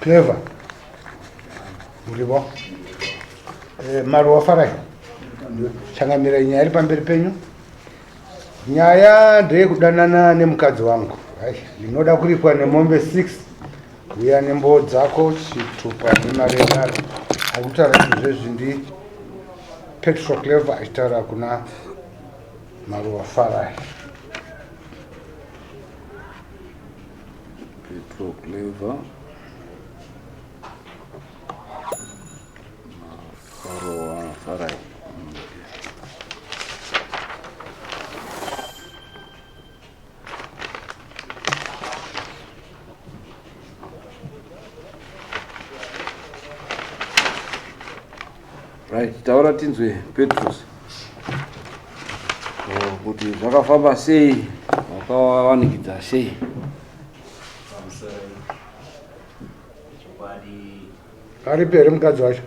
Clever. Murivo. Eh, Maruwa Farai. Changamira nyaya iri pamberi penyu. Nyaya ndeyekudanana nemukadzi wangu. Ndinoda kuripwa nemombe 6 uya nembowo dzako chitupa nemari yenharo akutaura izvezvi ndi petro clever achitaura kuna maruwa farai Petro Clever Faroa Farai Right, taura tinzwe Petrus. Oh, kuti zvakafamba sei? Wakavanikidza sei? Aripi here mukadzi wacho?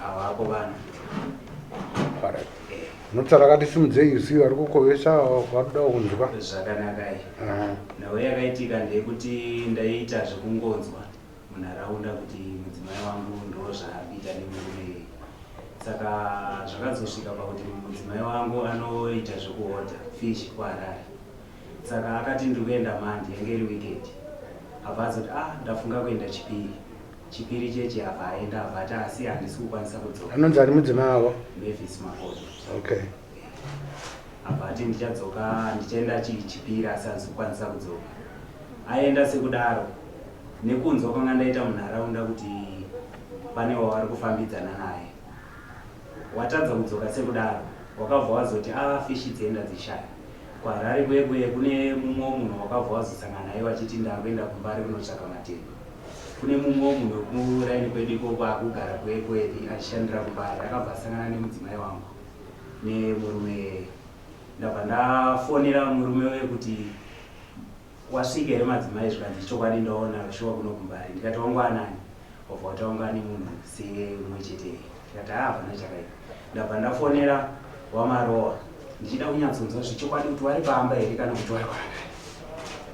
Hawako vana. Alright. Unotsara akati simudzei usi vari kukovesa vakuda kunzwa. Zvakanaka iyi. Aha. Nhau yakaitika ndeyekuti ndaiita zvekungonzwa munharaunda kuti mudzimai wangu ndozvaabita nemurume iyi saka zvakazosvika pakuti mudzimai wangu anoita zvekuhodha fish kuharare saka akati ndiri kuenda mandi yange iri weekend abva azoti a ah, ndafunga kuenda chipiri chipiri chechi abva aenda abva ati asi handisi kukwanisa kudzoka anonzi ari mudzimai wavo mavis makoto okay abva ati ndichadzoka ndichaenda chichipira asi hazikukwanisa kudzoka aenda sekudaro nekunzwa kwanga ndaita munharaunda kuti pane wavari kufambidzana naye watadza kudzoka sekudaro wakabva wazoti a ah, fishi dzienda dzishaya kwarari kuye kuye kune mumwewo munhu wakabva wazosangana naye wachiti ndakuenda kumbari kunotsvaka matengo kune mumwewo munhu wekuraini kwedu ikoko akugara kuye kuye achishandira kumbari akabva asangana nemudzimai wangu nemurume ndabva ndafonera murume uye kuti wasvika here madzimai zvikanzi chokwadi ndaona shuwa kuno kumbari ndikati wangwanani obva wataunga nemunhu seumwe chete ndikati haa hapana chakaipa ndabva ndafonera wamarowa ndichida kunyatsonzwa zvechokwadi kuti wari pamba here kana kuti wari kwanga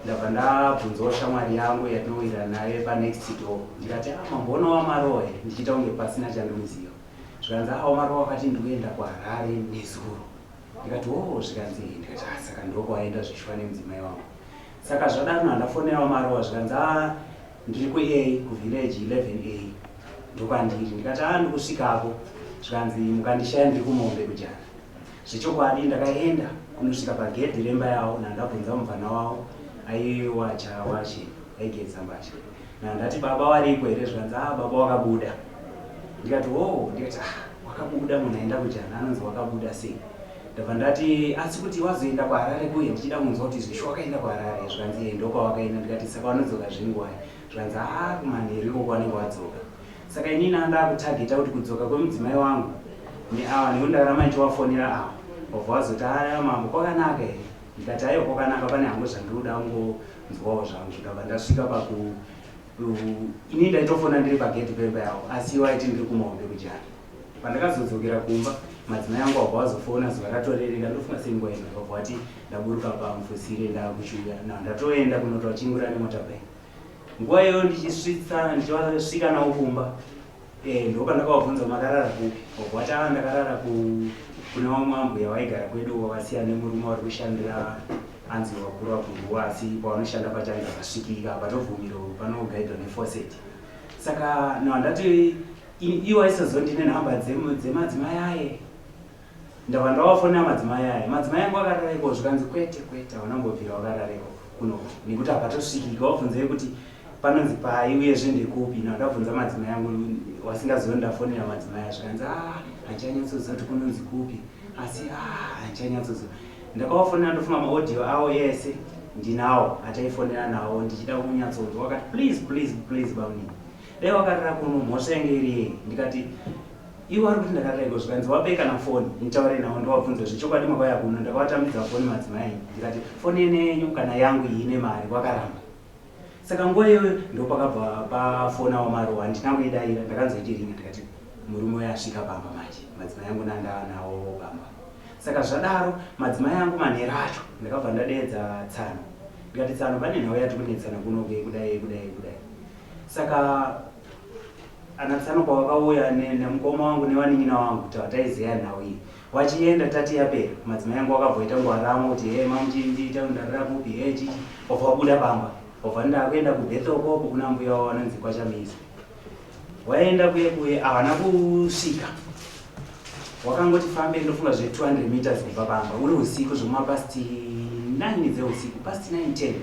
ndabva ndabvunzawo shamwari yangu yatinowira naye panext door ndikati ah, mamboona wamarowa here ndichiita kunge pasina chandinoziva Zvikanzi awo marowa akati ndikuenda kuHarare nezuro. Ndikati hoo zvikanzi ndikati haa saka ndokwawaenda zvishwa nemudzimai wangu. Saka zvadanwa ndafonerawo marowa zvikanzi haa ndiri kuA kuvillage 11A ndokwandiri. Ndikati haa ndikusvikako zvikanzi mukandishaya ndiri kumombe kujana. Zvechokwadi ndakaenda kunosvika pagedhi remba yawo ndandabvunza mupfana wawo aiwacha wache aigeza mbatya. Ndati baba variko here zvikanzi ah baba wakabuda ndikati wo oh, ndikati ah wakabuda munhu aenda kujana anonzi wakabuda sei ndabva ndati asi kuti wazoenda kuharare kuye ndichida kunzwa kuti zvisho wakaenda kuharare zvikanzi ye ndokwawakaenda ndikati saka wanodzoka zvingwai zvikanzi haa kumanheru ikoko wanenge wadzoka saka inini andakutageta kuti kudzoka kwemudzimai wangu neawa nekuti ndakaramba ndichiwafonera awa wabva wazoti haa mambo kwakanaka here ndikati aiwa kwakanaka pane hangu zvandinoda nzwawo zvangu zvikabva ndasvika paku ini ndaitofona ndiri pagedhi pemba yavo asi iwo aiti ndiri kumahombe kujana pandakazodzokera kumba madzimai angu wabva wazofona zuva ratorereka ndofunga seinguva ino vabva wati ndaburuka pamufusire ndakuchiuya na ndatoenda kunotoachingura nemota bai nguva iyoyo ndichisvitsa ndichiwasvika nawo kumba Eh, ndopandakavabvunza makarara kupi wati ava ndakarara kuna vamwe ambuya vaigara kwedu wavasiya nemurume wari kushandira anzi vakuru vakuruwa asi pavanoshanda pachange akasvikika patobvumiro panogaidwa nefoset saka no handati iwo aisazondine nhamba dzemadzimai aye Ndava ndavafonera madzimai aya. Madzimai angu akarara ikoko zvikanzi kwete kwete hauna kumbobvira wakarara ikoko kuno nekuti hapatosvikika wabvunzei kuti panonzi pai uyezve ndekupi ino akabvunza madzimai angu wasingazive ndafonera madzimai aya zvikanzi ah handichanyatsoziva kuti kunonzi kupi asi ah handichanyatsoziva ndakavafonera ndofunga maaudio awo ese ndinawo ataifonera nawo ndichida kunyatsonzwa wakati please please please bamunini Dai wakarara kuno mhosva yange iri yei ndikati iwe ari kuti ndakarara iko zvikanzi wapei kana foni nditaure nawo ndowabvunza zvechokwadi makauya kuno ndakawatambidza foni madzimai ndikati foni yene yenyu kana yangu iyi ine mari wakaramba saka nguva iyoyo ndopakabva pafona wamarowa handina kuidaira ndakanzoiti ringa ndikati murume uyo asvika pamba manje madzimai yangu nandava nawo pamba saka zvadaro madzimai yangu manhero acho ndakabva ndadeedza tsano ndikati tsano pane nhau yati kunetsana kunoke kudai kudai kudai Saka ana tsano pavakauya ne- nemukoma wangu nevanin'ina vangu kuti vataizeya nhau iyi vachienda tati yapera madzimai angu vakabvoita ngwaramo kuti he mamuchindiita kundarira kupi he chichi vabva vabuda pamba vabva vati ndakuenda kubethel koko kuna mbuya wavo vanonzi kwachamizi waenda kuye kuye havana kusvika wakangoti fambe ndofunga zve 200 meters kubva pamba uri usiku zvemapasti 9 dzeusiku pasti 9 10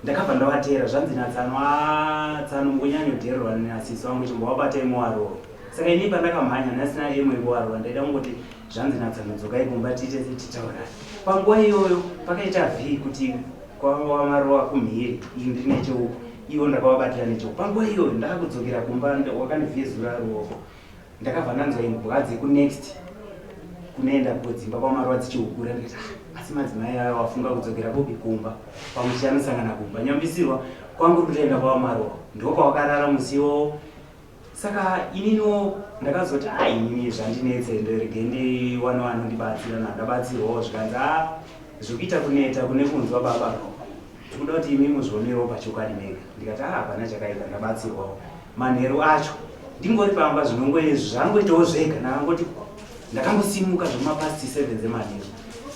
Ndakabva ndavateera zvanzi natsano haa tsano mukonyanyodhererwa nenasisi wangu chimbovabatai muwarowa saka ini pandakamhanya ndasina emo yekuwarowa ndaida kungoti zvanzi natsano dzokai kumba tiite titaurana panguva iyoyo pakaita vhii kuti kwava marowa kumhiri ii ndiri necheuko ivo ndakavabatira necheuko panguva iyoyo ndaakudzokera kumba wakandivhezura ruoko ndakabva ndanzwa imbwa dzekunext kunoenda kudzimba kwamaruva dzichihukura ndikati ah, asi madzimai ayo wafunga kudzokera kupi kumba pamusha anosangana kumba nyambisirwa kwangu kutoenda kwamaruva ndokwawakarara musi iwowo saka ininiwo ndakazoti a ah, inini zvandinetse nderege ndiwane wanondibatsira nandabatsirwawo zvikanzi a ah, zvekuita kuneta kune kunzwa baba no tikuda kuti imi muzvionerewo pachokwadi mega ndikati a hapana chakaita ndabatsirwawo Manheru acho ndingori pamba zvinongoizvi zvangoitawo zvega ndakangoti ndakangosimuka zvemapasti 7 dzemanheru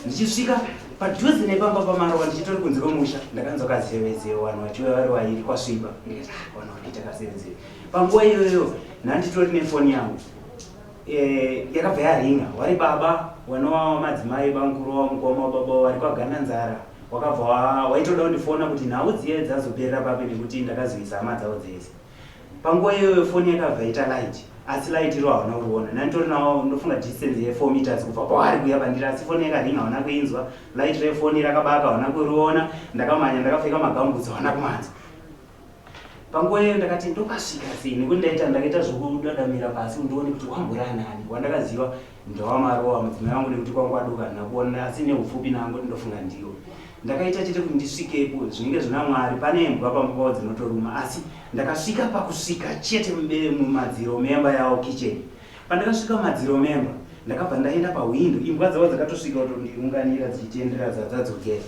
ndichisvika padhuze nepamba pamarowa ndichitori kunze kwemusha ndakanzwa kazevezeve vanhu vachiuya vari vairi kwasviba ndikati ah, vanhu vari kuita kazevezeve panguva iyoyo nhanditori nefoni yangu Eh, yakabva yaringa wari baba wanowa wamadzimai bamukuru wawo mukoma wababa wawo wari kwaganda nzara wakabva wa- waitoda kundifona kuti nhau dziye dzazoperera papi nekuti ndakazoisa hama dzavo dzese panguva iyoyo foni yakabva ita light asi light iro hauna kuriona nanditori nawo ndofunga distance ye 4 meters kubva kwaari kuya pandiri asi foni yakaringa hauna kuinzwa light refoni rakabaka hauna kuriona ndakamhanya ndakapfeka magambutsi hauna kumanzwa Panguva iyoyo ndakati ndopasvika sei nekuti ndaita ndakaita zvokudadamira pasi kuti ndione kuti wambura nani wandakaziva ndewamarowa mudzimai wangu nekuti kwanga kwaduka handina kuona asi neupfupi nangu kuti ndofunga ndiwo ndakaita chete kuti ndisvikepo zvinenge zvina mwari pane imbwa pamba pavo dzinotoruma asi ndakasvika pakusvika chete mubere mumadziro memba yawo kitchen pandakasvika mumadziro memba ndakabva ndaenda pahwindo imbwa dzavo dzakatosvika kutondiunganira dzichitendera dzadzadzokera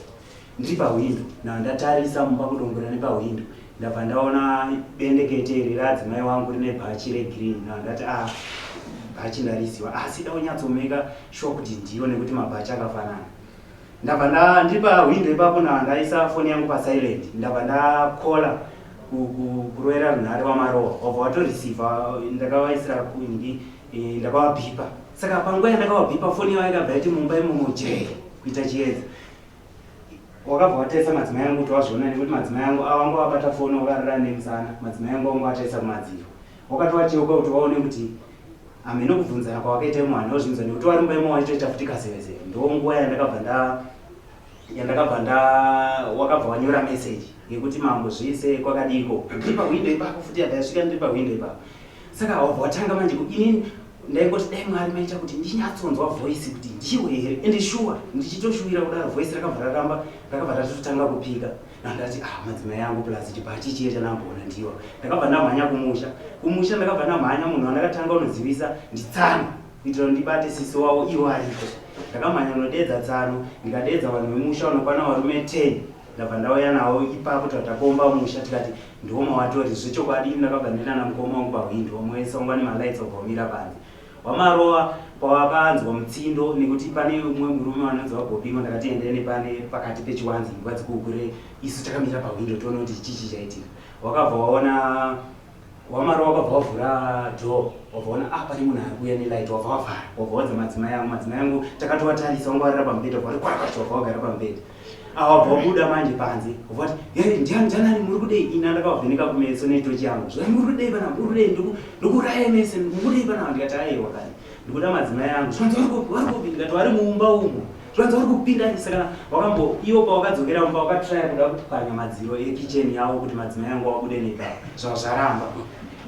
Ndiri pahwindo na ndatarisa mumba kudongorera nepahwindo ndabva ndaona bendekete iri raadzimai wangu rine bhachi regreen na ndati a ah, bhachi ndariziwa asi da unyatsomeka shuwa kuti ndiyo nekuti mabhachi akafanana ndabva nda ndiri pahwindo ipapo na ndaisa foni yangu pasilent ndabva ndakola kuroera runhare wamarowa wabva watorisiva ndakavaisira kungi eh, ndakavabhipa saka panguva yandakavabhipa foni yavo yakabva yati mumba imomo jee kuita chiedza wakabva wataisa madzimai angu kuti wazviona nekuti madzimai angu awanga wabata foni wakarira nemusana madzimai angu wanga wataisa kumadziro wakati wacheuka kuti waone kuti hameno kubvunzana kwawakaita imwe hanhu wazvinza nekuti wari mumba imwe waitoita futi kazevezeve ndo nguva yandakabva nda yandakabva nda wakabva wanyora meseji yekuti mambo zvise kwakadiiko ndiri pahwindo ipapo futi yandayasvika ndiri pahwindo ipapo Saka hawabva watanga manje kuti inini ndaingoti dai Mwari maita kuti ndinyatsonzwa voice kuti ndiwe here and sure ndichitoshuwira kudaro voice rakabva raramba rakabva ratotanga kupika ndandati ah madzimai yangu plus chibhachi chiye chandamboona ndiwa ndakabva ndamhanya kumusha kumusha ndakabva ndamhanya munhu wandakatanga unozivisa nditsano kuitira kuti ndibate sisi wavo iwo ariko ndakamhanya unodeedza tsano ndikadeedza vanhu vemusha unokwana varume 10 ndabva ndauya nawo ipapo tava takomba musha tikati ndiwo mawatori zvechokwadi ini ndakabva ndaenda namukoma wangu pahwindi wamuesa wangwa nemalights wabva wamira panze wamarova pavakanzwa mutsindo nekuti pane umwe murume wanonzi vabobima ndakati endai nepane pakati pechiwanzi imbwa dzikuukure isu takamira pahwindo toona kuti chichi chaitika wakabva waona Wamara wakabva wavhura door wavaona ah pane munhu ari kuuya nelight wabva wavhara wabva wadza madzimai angu madzimai angu takatovatarisa wanga warira pamubhedha wabva wati kwakwacho wabva wagara pamubhedha ah, wabva wabuda manje panze wabva wati yari ndiani ndiani ani muri kudei ina ndakavavheneka kumeso netochi yangu zvai muri kudei vana muri kudei ndokuraya mese muri kudei vana ndikati aiwa kani ndikuda madzimai angu zvanzi vari kupi ndikati vari muumba umo zvanzi vari kupinda saka wakambo iwo pawakadzokera umba wakatraya kuda kupwanya madziro ekicheni yavo kuti madzimai angu wabude neka zvava zvaramba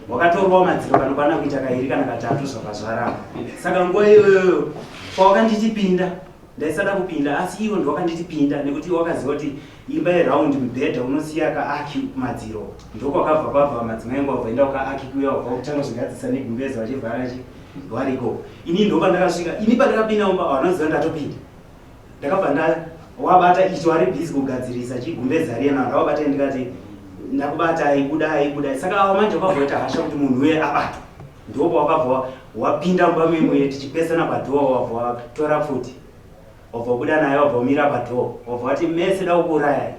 wakatorwawo madziro kanokwana kuita kairi kana katatu zvava zvaramba saka nguva iyoyoyo pawakandichipinda Ndaisada kupinda asi iwo ndiwakanditi pinda nekuti wakaziva kuti imba yeround mibhedha unosiya kaaki kumadziro ndokwakabva kwabva madzimai angu wabvaenda kukaaki kuya wabva kutanga zvigadzisa negumbeza vachivhara chi variko ini ndoka ndakasvika ini pandakapinda mumba wanoziva ndatopinda ndakabva nda wabata icho ari busy kugadzirisa chigumbeza riya naro wabata ndikati ndakubatai budai budai saka awa manje kwabvoita hasha kuti munhu uye abatwa Ndipo pawakabva wapinda mumba memu iye tichipesana padoor wabva watora pfuti wabva wabuda naye wabva wamira padoor wabva wati mese da kukuurayai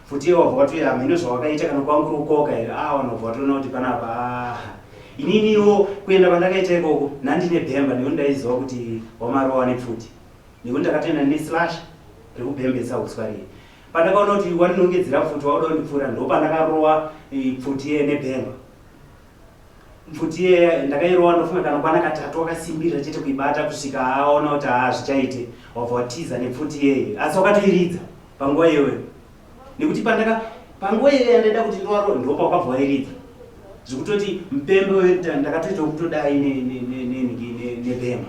pfuti iye wabva wati hameno zvawakaita kana kwanga kuri kukoka here ah vanhu wabva watoona kuti panapa ah ininiwo kuenda kwandakaita ikoko nandine bhemba nekuti ndaiziva kuti wamarowa nepfuti nekuti ndakatoenda neslash rekubhembesa uswa riye pandakaona kuti wandinongedzera pfuti wakuda kundipfuura ndopandakarowa eh, pfuti iye nebhemba Mfuti yeya ndakairowa ndofunga kana kwana katatu wakasimbirira chete kuibata kusvika aona kuti haa zvichaite wabva watiza nepfuti yeye asi wakatoiridza panguva iyoyo nekuti pandaka panguva iyoyo yandaida kuti ndiwaro ndopa wakabva wairidza zvekutoti mupembe ndakatoita kutodai nenhigi nebhema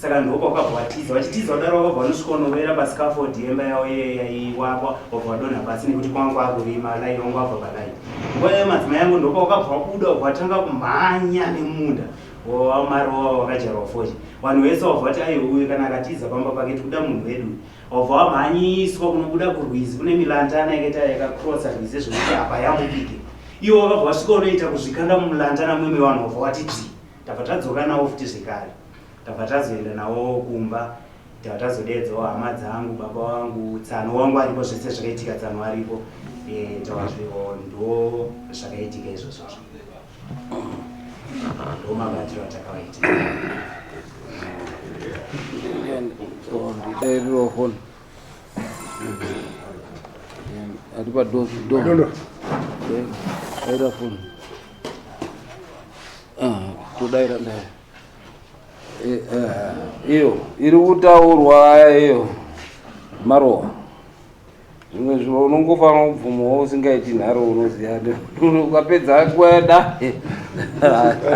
saka ndoko kwabva watiza wachitiza wadaro wabva wanosvika unovera pascaford yemba yavo iye yaiwakwa wabva wadonha pasi nekuti kwanga kwakurima lai wanga wabva palai nguva yayo madzimai yangu ndoko wakabva wabuda wabva watanga kumhanya nemunda wamarowa wakajarwa foshi vanhu vese wabva wati aiwe uyu kana akatiza pamba pake tikuda munhu wedu wabva wamhanyiswa kunobuda kurwizi kune milantana yakaita yakakrosa rwizi zvekuti apa yamupike iwo wakabva wasvika unoita kuzvikanda mumulantana mwemwe vanhu wabva wati dzii Tabva tadzoka nawo futi zvekare. Tabva tazoenda nawo kumba tabva tazodeedzawo hama dzangu baba wangu tsano wangu aripo zvese zvakaitika tsano aripo eh, tawazviwo ndo zvakaitika izvozvozvo ndo mabatiro atakawaita ndairirofoni ari padoaira foni todaira ah, daira eh, eh, iyo iri kutaurwa iyo marowa zvimwe zviro unongofanira kubvumawo usingaiti nharo unoziva ukapedza kweda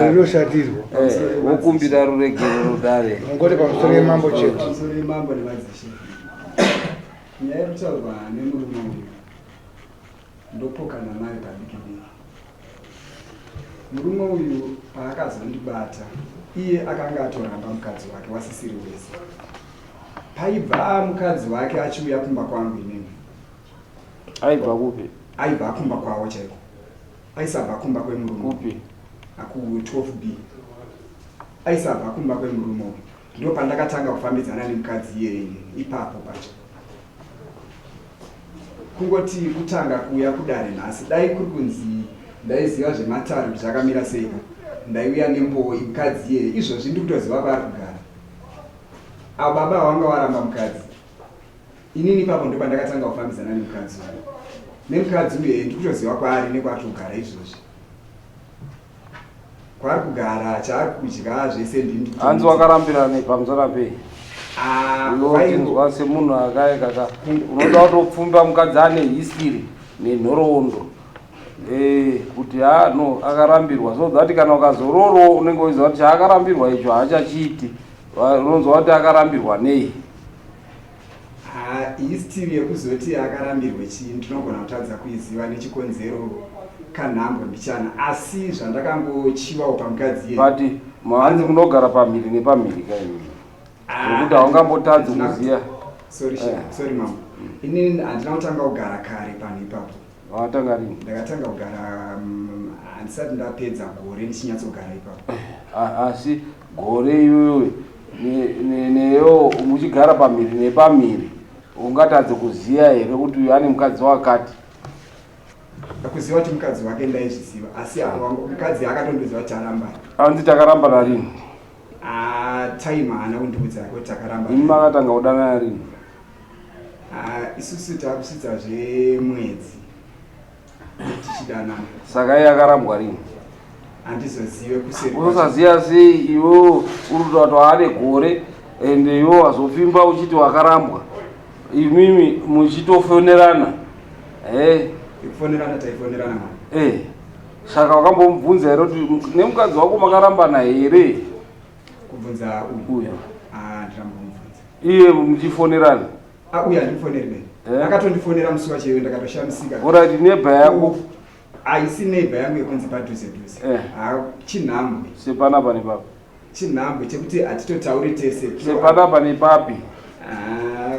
rinoshatirwa eh, wokumbira ruregero rudare ngoti pamusoro yemambo chete nyaya yekutaurwa nemurume uyu Ndopokana naye padiki diki. Murume uyu paakazondibata iye akanga atoramba mukadzi wake wasisiri wese. Paibva mukadzi wake achiuya kumba kwangu inini. Aibva kupi? Aibva akumba kwavo chaiko. Aisabva kumba kwemurume. Kupi? Aku 12B. Aisabva kumba kwemurume uyu. Ndipo pandakatanga kufambidzana nemukadzi iyeye ipapo pacho. Kungoti kutanga kuuya kudare nhasi, dai kuri kunzi ndaiziva zvematare kuti zvakamira sei, ndaiuya nembowo imukadzi iyeye. Izvozvi ndiri kutoziva kwaari kugara. Avo baba vanga waramba mukadzi. Inini ipapo ndipo pandakatanga kufambidzana nemukadzi uyu. Nemukadzi uyu ndiri kutoziva kwaari nekwaari kugara izvozvi. kwaari kugara chaari kudya zvese ndini hanzi wakarambira nei pamusana pei Ah, unotinzwa kwaivo- semunhu akaye kaka unoda kutopfumba mukadzi ane history nenhoroondo Eh, kuti ha no akarambirwa so that kana ukazoroorwa unenge uchiziva kuti chaakarambirwa icho haachachiiti Va- unonzwa kuti akarambirwa nei Haa iyi still yekuzoti akarambirwe chii ndinogona kutadza kuiziva nechikonzero kanhambo mbichana asi zvandakangochivawo pamukadzi iye but mhanzi munogara pamhiri nepamhiri kaimi nekuti ah, haungambotadzi kuziva sorry eh. sorry mama inini handina kutanga kugara kare panhu ipapo Watanga rini? Ndakatanga kugara mm, handisati ndapedza gore ndichinyatsogara ipapo. A- Asi gore iwewe ne- ne- neyo muchigara pamhiri nepamhiri ungatadze kuziva here kuti uyu ane mukadzi wakati? Kuziva kuti mukadzi wake ndaizviziva asi apa wangu- mukadzi akatondiudza kuti tarambana. Hanzi takarambana rini? Ah, time haana kundiudza kuti takarambana. Imi makatanga kudanana rini? Ah, isusu takusvitsa zvemwedzi tichidana saka iye akarambwa rini handizozive kuseri kwacho. usaziva sei iwewo uri kutoa kuti waane gore and iwewo wazopfimba uchiti wakarambwa imimi muchitofonerana e kufonerana taifonerana mwana e saka wakambomubvunza here kuti nemukadzi wako makarambana here Kubvunza uyu. Ah, ndramubvunza. Iye muchifonerana. Ah, uyu andifoneri nei. Eh? Akatondifonera musi wacho iwe ndakatoshamisika. Alright, neighbor yako. Haisi neighbor yangu yekunzi padhuze dhuze. Eh. Ah, chinhambwe. Sepana pane papi? Chinhambwe chekuti hatitotauri tese. Sepana pane papi? Ah.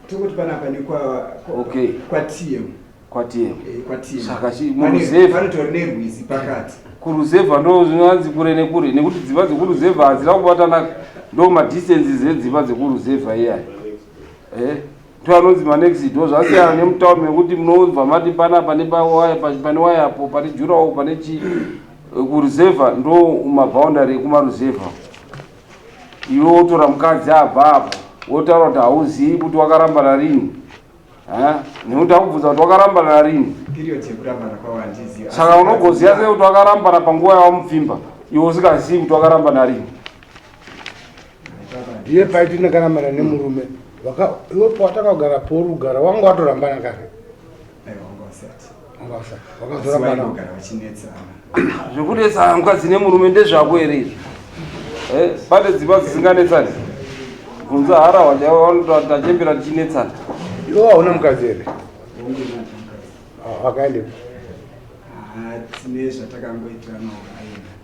Tokuti pana pane kwa kwa, okay. kwa TM. kwatiema Eh, kwatiema. saka chi- Pane- muruzevha panotori nerwizi pakati kuruzevha ndo zvinonzi kure nekure nekuti dzimba dzekuruzevha hadzina kubatana ndo madistances edzimba dzekuruzevha iyaya eh ndo anonzi manext door zvasiyana nemutauni mekuti munobva mati panapa nepawaya pa- pane waya apo pane jurawo pane chi eh, kuruzevha ndo maboundary ekumaruzevha iwe wotora mukadzi abva apo wotaura kuti hauzivi kuti wakarambana rini nekuti akubvunza kuti wakarambana rini saka unogoziva sei kuti wakarambana panguva yawamupfimba iwe usingazivi kuti wakarambana rini ndiye paiti ndakarambana nemurume iwe pawatakagara porugara wanga watorambana kare Mukasa, wakazora mwana. Vaigara vachinetsana. Zvekunetsana mukadzi nemurume ndezvako here izvi? Eh, pane dzimba dzisinganetsani. Kunza harawa chaiwo vanoto tachembera tichinetsana. Iwo hauna mukadzi here? Ah, Vakaendepi? Ah, tine zvatakangoitirana ukaenda.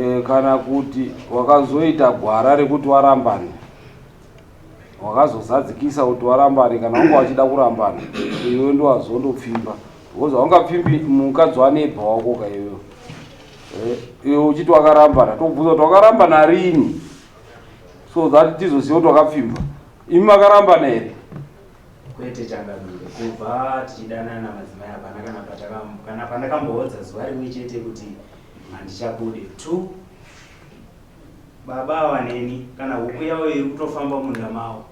E, kana kuti wakazoita gwara rekuti warambane wakazozadzikisa kuti warambane kana wanga wachida kurambana iwe ndiwazondopfimba because waungapfimbi mukadzi wanebha wako ka iwewe e, iwe uchiti wakarambana tokubvunza kuti wakarambana rini so that tizoziva kuti wakapfimba imi makarambana here kwete changamire kubva tichidanana madzimai hapana kana patakambo kana pandakamboodza zuva rimwe chete kuti Handichabude tu baba awa neni kana huku yawo iri kutofamba munda mawo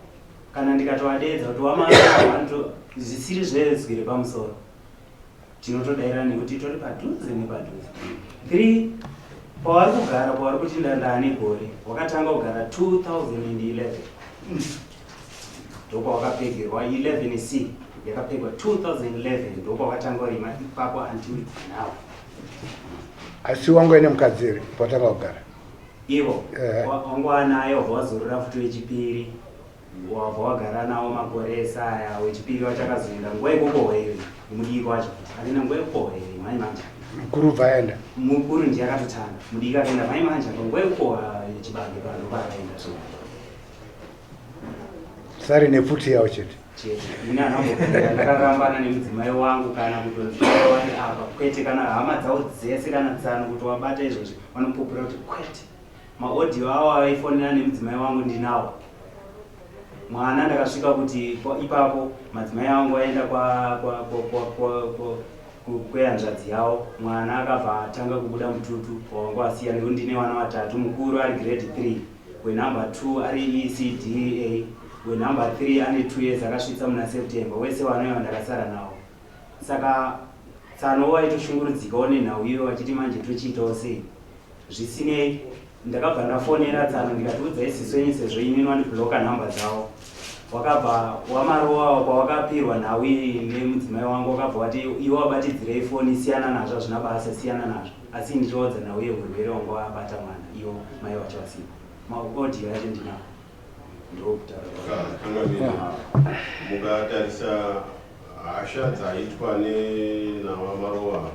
kana ndikatovadeedza kuti wamaato zvisiri zvezwi repamusoro tinotodaira nekuti tori padhuze nepadhuze three pavari kugara pavari kuti ndandane gore wakatanga kugara 2011 ndokwawakapegerwa 11 c yakapegwa 2011 ndokwawakatanga kurima ipapo until now asi wangu aine mukadzi here patanga kugara ivo eh. wangu anayo vawazorora futi wechipiri wabva wagara nawo makore esaya wechipiri wachakazoenda nguva ikoko hweiwe mudiki wacho akaenda nguva ikoko hweiwe mhai manja mukuru ubva aenda mukuru ndiye akatotanga mudiki akaenda mhai manja nguva ikoko chibage panopa akaenda so sari nepfuti yawo chete ndakarambana nemudzimai wangu kana kutonziwani apa kwete kana hama dzawo dzese kana tsano kuti wabata izvozvi vanopupura kuti kwete maaudio awo aifonera nemudzimai wangu ndinawo mwana ndakasvika kuti ipapo madzimai angu aenda kwehanzvadzi yawo mwana akabva atanga kubuda mututu wangu asiya nekuti ndine vana vatatu mukuru ari grade three wenumber 2 ari ecda wenumber 3 ane 2 years akasvitsa muna september wese wanoya wandakasara nawo saka tsano waitoshungurudzikawo nenhau iyo vachiti manje tochiitawo sei zvisinei ndakabva ndafonera tsano ndikatiudza isisu yenyu sezvo inini wandibloka nhamba dzavo wakabva wamarowa kwawakapirwa nhau iyi nemudzimai wangu wakabva wati iwe wabatidzirei foni siyana nazvo hazvina basa siyana nazvo Asi ini choodza nauye hurwere wanga wabata mwana iwo mai wacho vasipo. Maudio yacho ndinawo ndokutaura. Mukatarisa hasha dzaitwa nenava Marowa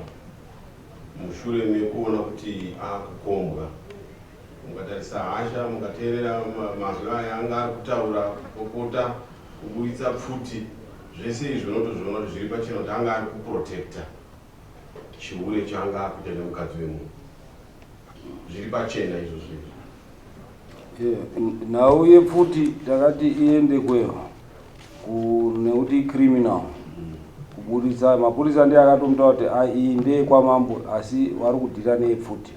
mushure mekuona kuti akukombwa mukatarisa hasha mukateerera mazwi aya anga ari kutaura kupopota kuburitsa pfuti zvese izvi unotozviona kuti zviri pachena kuti anga ari kuprotecta Chihure changa akuita nemukadzi wemunhu. Zviri pachena izvo zvinhu. Nhau yepfuti takati iende kweyo nekuti criminal kuburitsa mapurisa ndiye akatomuta kuti iyi ndeye kwamambo asi vari kudhira neyepfuti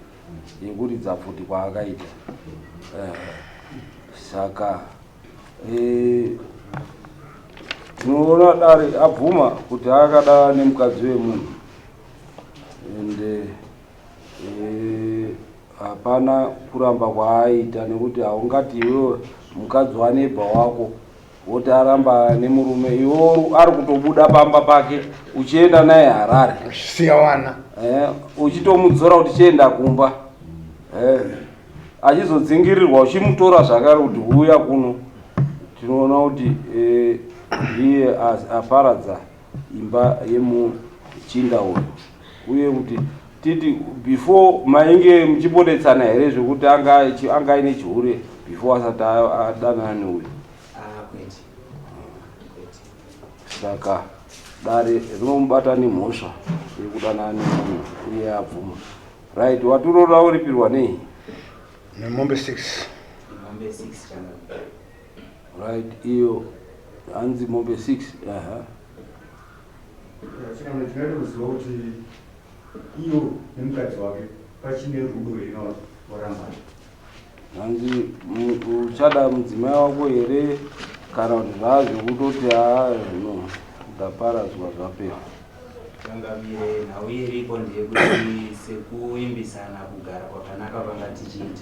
yekuridza pfuti kwaakaita saka tinoona e, dare abvuma kuti akada nemukadzi wemunhu and e, hapana kuramba kwaaita nekuti haungati iwewe mukadzi wanebha wako woti aramba nemurume iwo ari kutobuda pamba pake uchienda naye harare siyawana eh, uchitomudzora kuti chienda kumba eh. achizodzingirirwa uchimutora zvakare kuti huya kuno tinoona kuti eh, ndiye as- aparadza imba yemuchinda uyu uye kuti titi before mainge muchibodetsana here zvekuti anga achi- anga aine chihure before asati a- adanana neuyu Ah, kwete. Kwete. saka dare rinomubata nemhosva yekudanana nemunhu uye abvuma Right, waturora uripirwa nei? Nemombe 6. Mombe 6 chana. Right, iyo hanzi mombe 6. Aha. Chikana chinoita kuziva kuti iyo nemukadzi wake pachine rudo here kana kuti vorambana. hanzi uchada mudzimai wako here kana kuti zvaazvekutoti aa zvino ndaparadzwa zvapera changamire nhau iripo ndeyekuti sekuimbisana kugara kwakanaka vanga tichiita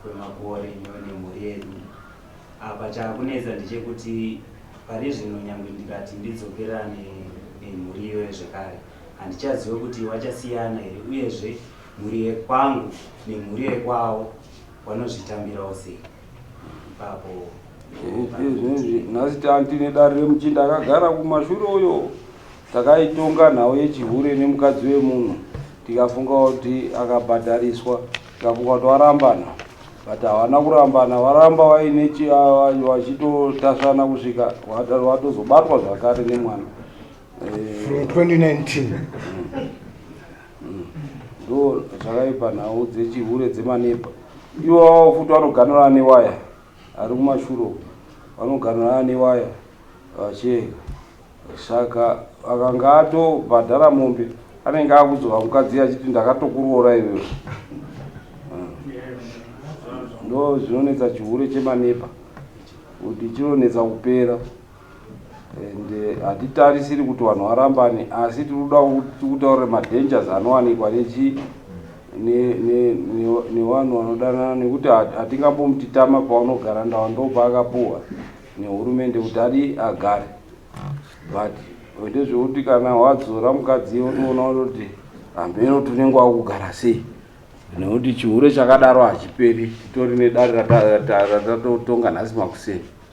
kwemakore nyo nemhuri yedu apa chakunetsa ndechekuti pari zvino nyangwe ndikati ndidzokerane nemhuri iyoyo zvekare handichazive kuti wachasiyana here uyezve Mhuri yekwangu nemhuri yekwavo vanozvitambirawo sei ipapo? Izvezvi nhasi tanti nedare remuchinda akagara kumashure uyo takaitonga nhau yechihure nemukadzi wemunhu tikafunga kuti akabhadhariswa tikafunga kuti warambana but havana kurambana varamba vaine vachitotasvana kusvika vatozobatwa zvakare nemwana eh, from 2019 mm. ndo zvakaipa nhau dzechihure dzemanepa iwawo futi vanoganura ane waya ari kumashuro vanoganura ane waya vacheka saka akanga atobhadhara mombe anenge akuzova mukadzi achiti ndakatokuroora iwewe ndo zvinonetsa chihure chemanepa kuti chinonetsa kupera and eh, hatitarisiri uh, kuti vanhu varambane asi tiri kuda tikutaurira madangers anowanikwa nechi nevanhu vanodanana nekuti hatingambomutitama paunogara ndawa ndopa akapuwa nehurumende kuti adi agare but ndezvekuti kana wadzora mukadzi unoona kuti hameno tunenge wakugara sei nekuti chihure chakadaro hachiperi titori nedare ratatotonga nhasi makuseni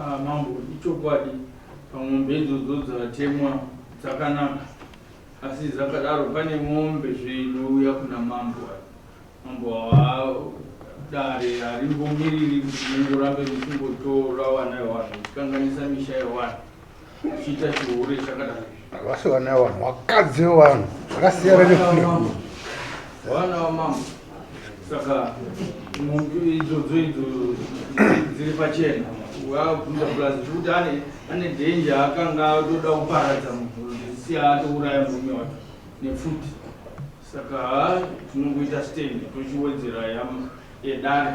Ah, mambo ichokwadi pamombe idzodzo dzatemwa dzakanaka asi dzakadaro pane mombe zvinouya kuna mambo mambo dare harimbomiriri kuti mungorambe muchingotora wana yewanhu muchikanganisa misha yewanhu vasi vana vanhu vakadzi vevanhu vakasiyana nefilm vana vamama saka idzodzo idzo dziri pachena waabvunza plus zvekuti ane ane dhenje akanga atoda kuparadza munhu zisiya atouraya murume wacho nepfuti saka tinongoita stand tochiwedzera yedare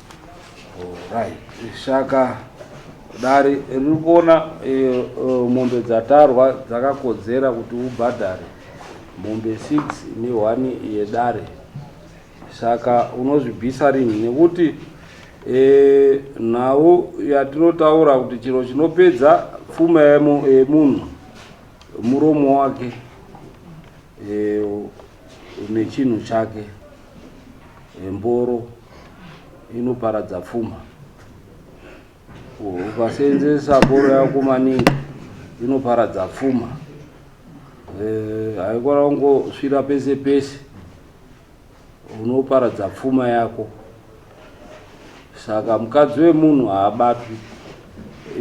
Alright. Shaka dare riri kuona eh, eh, mombe dzatarwa dzakakodzera kuti ubhadhare mombe 6 nehwani yedare saka unozvibvisa rinhi nekuti eh, nhau yatinotaura kuti chiro chinopedza pfuma yemu- yemunhu muromo wake eh, nechinhu chake Mboro inoparadza pfuma. Ukaseenzesa mboro yako maningi inoparadza pfuma. Eh, haikwana kungosvira pese pese unoparadza pfuma yako. Saka mukadzi wemunhu haabatwi.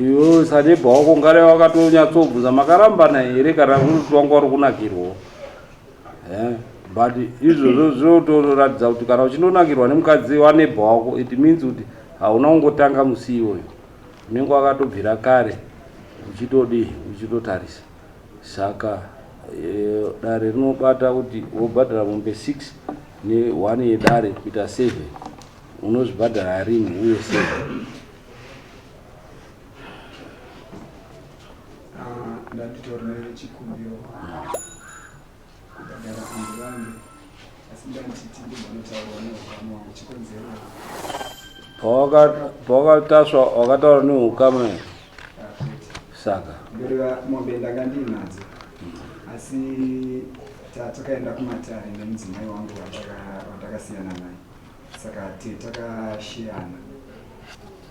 Iwe sanebha wako ngare wakatonyatsobvunza makarambana here kana kuti wanga uri kunakirwawo. Eh, but izvozvo zvinotoratidza kuti kana uchindonakirwa nemukadzi wanebha wako it means kuti hauna kungotanga musi iwoyo unenge wakatobvira kare uchitodii uchitotarisa saka eh, dare rinobata kuti wobhadhara mombe 6 ne1 yedare kuita 7 unozvibhadhara rini uye 7 ndanditorere chikumbiro kubhadhara kunge vange asi ndanditi ndimbonotaura neukama wangu chikonzero pawakataswa wakataura neukama saka ndoreva mombe ndanga ndiinadzo asi takaenda kumatare nemudzimai wangu watakasiyana naye saka takashiyana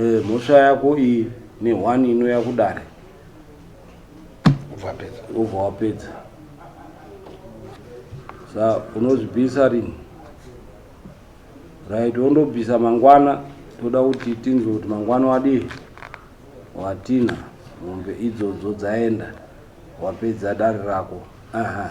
Eh, mhosva yako iyi ne one inouya kudare ubva wapedza sa unozvibvisa rini right wondobvisa mangwana toda kuti tinzwe kuti mangwana wadii watina mombe idzodzo dzaenda wapedza dare rako aha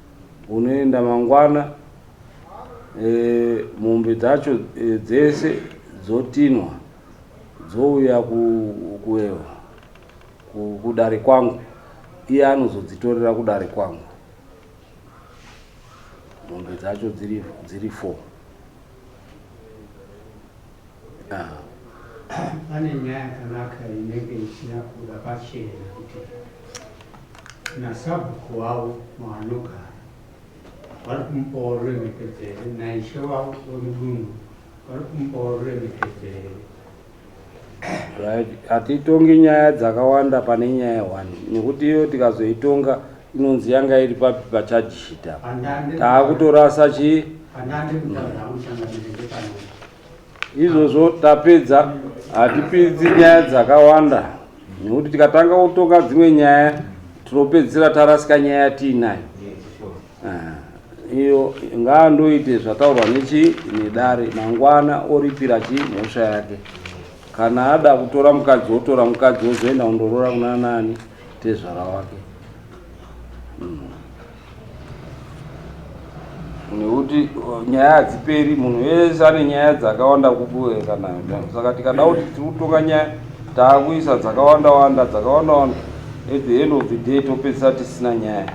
Unoenda mangwana e, mombe dzacho e, dzese dzotinwa dzouya ku, ku, ku, kudare kwangu iye anozodzitorera kudare kwangu mombe dzacho dziri, dziri four Ah. pane nyaya yakanaka inenge isina kuda pachena kuti nasabhuku wavo maanogara vari kumupawo ruremekedzere naishe wavo wemudunhu vari kumupawo ruremekedzere right hatitongi nyaya dzakawanda pane nyaya one nekuti iyo tikazoitonga inonzi yanga iri papi pachajishita taakutorasa chii izvozvo tapedza hatipidzi nyaya dzakawanda nekuti tikatanga kutonga dzimwe nyaya tinopedzisira tarasika nyaya tiinayo Eh, iyo ngaa ndoite zvataurwa nechi nedare mangwana oripira chi mhosva yake kana ada kutora mukadzi wotora mukadzi wozoenda kundoroora kuna nani tezvara wake hmm. nekuti uh, nyaya hadziperi munhu wese ane nyaya dzakawanda kubueka nayo saka tikada kuti tiri kutonga nyaya taakuisa dzakawanda wanda dzakawanda wanda at the end of the day topedzisa tisina nyaya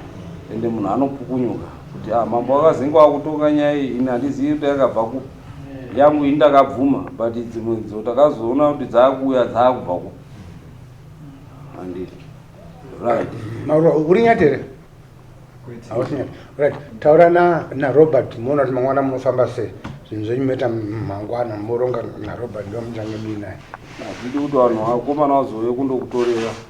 ende munhu anopukunyuka kuti ah, mambo akazinge wakutonga nyaya iyi ini handizivi kuti yakabva ku yangu ini ndakabvuma but dzimwe dzo takazoona kuti dzaakuuya dzaakubva ku handi right uri nyatere right taura na narobert moona kuti mangwana munofamba sei zvinhu zvenyu moita mangwana moronga narobert ndomutange mii naye hazvidi kuti vanhu vakomana vazouye kundokutorera